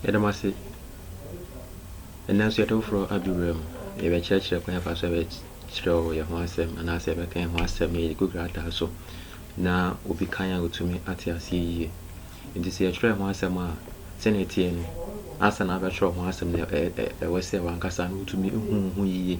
Yɛda mo ase. Ɛnnɛ nso yɛde foforɔ adu berɛ mu. Yɛbɛkyerɛkyerɛ kwan yɛfa so yɛbɛkyerɛw yɛn ho asɛm anaasɛ yɛbɛka yɛn ho asɛm na yɛde gu krataa so na obi kan a ɔtumi ate aseɛ yie. Nti sɛ yɛtwerɛ ho asɛm a sɛnea ɛteɛ no ansa na abɛtwerɛ ho asɛm no ɛwɔ sɛ wankasa no wotumi hu ho yie.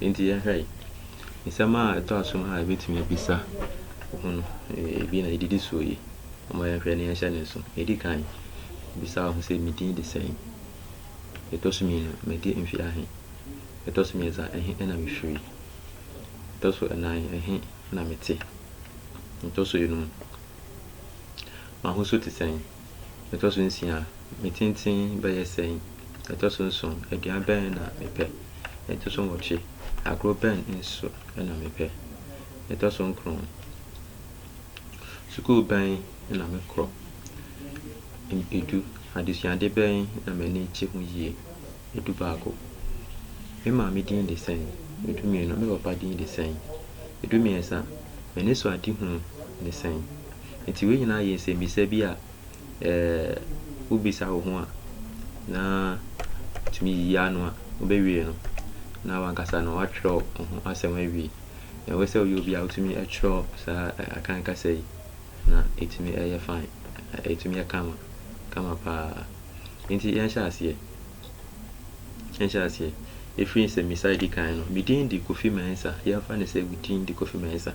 Enti yɛnhwɛ nsɛm a ɛtɔ aso no a yɛbɛtumi abisa ho no bi na ɛdidi soɔ yi. Momma yɛnhwɛ na yɛnhyɛ ne nso. Ɛdi kan, bisa wo ho sɛ, me din de sɛn? Ɛtɔ so mmienu, madi mfe ahe? Ɛtɔ so mmiɛnsa, ɛhe na mefiri? Ɛtɔ so nnan, ɛhe na mete? Ɛtɔ so enum, m'ahosuo te sɛn? Ɛtɔ so nsia, me tenten bɛyɛ sɛn? Ɛtɔ so nson, aduan bɛn na mepɛ? Ɛtɔ so nwɔtwe, agorɔ bɛn nso na mepɛ? Ɛtɔ so nkron, sukuu bɛn na mekɔ? Edu, adesuade bɛn na m'ani gye ho yie? Edu baako, me maame din de sɛn? Edu mmienu, me papa din de sɛn? Edu mmiɛnsa, m'anisoadehunu ne sɛn? Enti wei nyinaa yɛ nsɛmmisa bi a sɛ wobisa wo ho a, na wotumi yi ano a, wobɛwie no, na w'ankasa no woatwerɛ wo ho asɛm awie. Nea ɛwɔ sɛ woyɛ biara, wotumi twerɛ saa Akan kasa yi, na ɛtumi yɛ fine, ɛtumi yɛ kama, kama pa ara. Enti yɛnhyɛ aseɛ, yɛnhyɛ aseɛ. Ɛfiri nsɛmmisa a ɛdi kan no, Me din de Kofi Mensah. Yɛmfa no sɛ wo din de Kofi Mensah.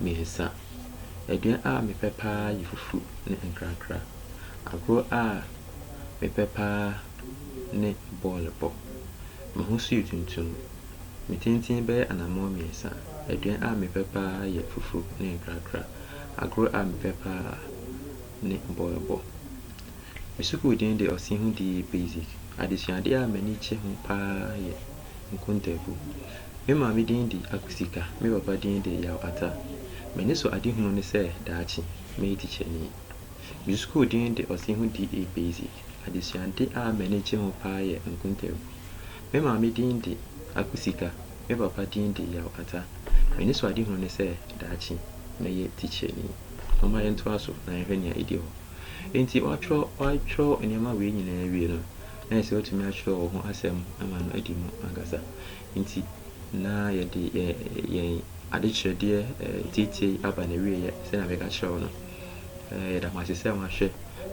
mmiɛnsa. Aduan a mepɛ pa ara yɛ fufu ne nkrakra. Agorɔ a mepɛ pa ara ne bɔɔlo bɔ. Me ho nso yɛ tuntum. Me tenten bɛyɛ anammɔn mmiɛnsa. Aduan a mepɛ pa ara yɛ fufu ne nkrakra. Agorɔ a mepɛ pa ara ne bɔɔlo bɔ. Me sukuu din de Ɔsɛe Ho Die Basic. Adesuadeɛ a m'ani gye ho pa ara yɛ. Nkontaabu. Me maame din de Akusika, me papa din de Yaw Ata. M'ani sɔ adehunu ne sɛ daakye mɛyɛ tikyani. Me sukuu din de Ɔseho DA Basic. Adesuade a m'ani gye ho paa yɛ nkontaabu. Me maame din de Akusika, me papa din de Yaw Ata. M'ani sɔ adehunu ne sɛ daakye mɛyɛ tikyani. Momma yɛntoa so na yɛnhwɛ nea edi hɔ. Enti wɔatwerɛ nneɛma wei nyinaa awie no, na ayɛ sɛ watumi akyerɛw wɔn ho asɛm ama no adi mu ankasa. Enti, na yɛde yɛn adekyerɛdeɛ ntiatia yi aba n'awieeɛ sɛnea meka kyerɛ wo no. Yɛda mo ase sɛ moahwɛ,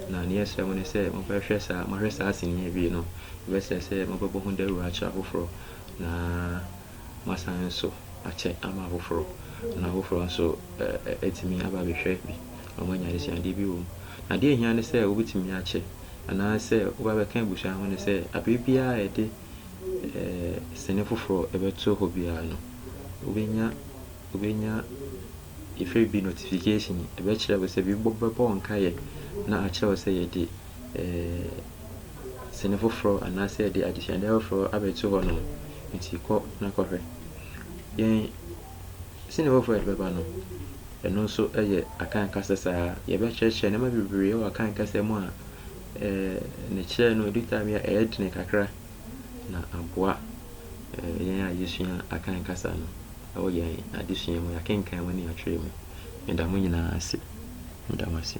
na nea yɛsrɛ mo ne sɛ mobɛhwɛ saa, moahwɛ saa sini yi awie no, ɛbɛsɛ sɛ mobɛbɔ ho dawuro akyerɛ afoforɔ, na wɔasan nso akyɛ ama afoforɔ, na afoforɔ nso atumi aba abɛhwɛ bi na wɔanya adesuadeɛ bi wɔ mu. Na deɛ ɛhia ne sɛ wobɛtumi akyɛ anaasɛ woba bɛka abusua ho ne sɛ aberɛ biara a yɛde sini foforɔ bɛto hɔ biara no, wobɛnya wobɛnya yɛfrɛ bi notification, ɛbɛkyerɛ wo sɛ biribi bɛbɔ wo nkaeɛ na akyerɛ wo sɛ yɛde sini foforɔ anaasɛ yɛde adesuadeɛ afoforɔ abɛto hɔ nom nti kɔ na kɔhwɛ. Yɛn sini foforɔ a yɛde bɛba no, ɛno nso yɛ Akan kasa saa. Yɛbɛkyerɛkyerɛ nneɛma bebree wɔ Akan kasa mu a eh, ne kyerɛ no ɛdu time a ɛyɛ dene kakra na aboa eh, yɛn a yɛsua Akan kasa no. wɔ yɛn adesua mu, yɛakenkan mu, ne yɛatwerɛ mu. Meda mo nyinaa ase. Meda mo ase.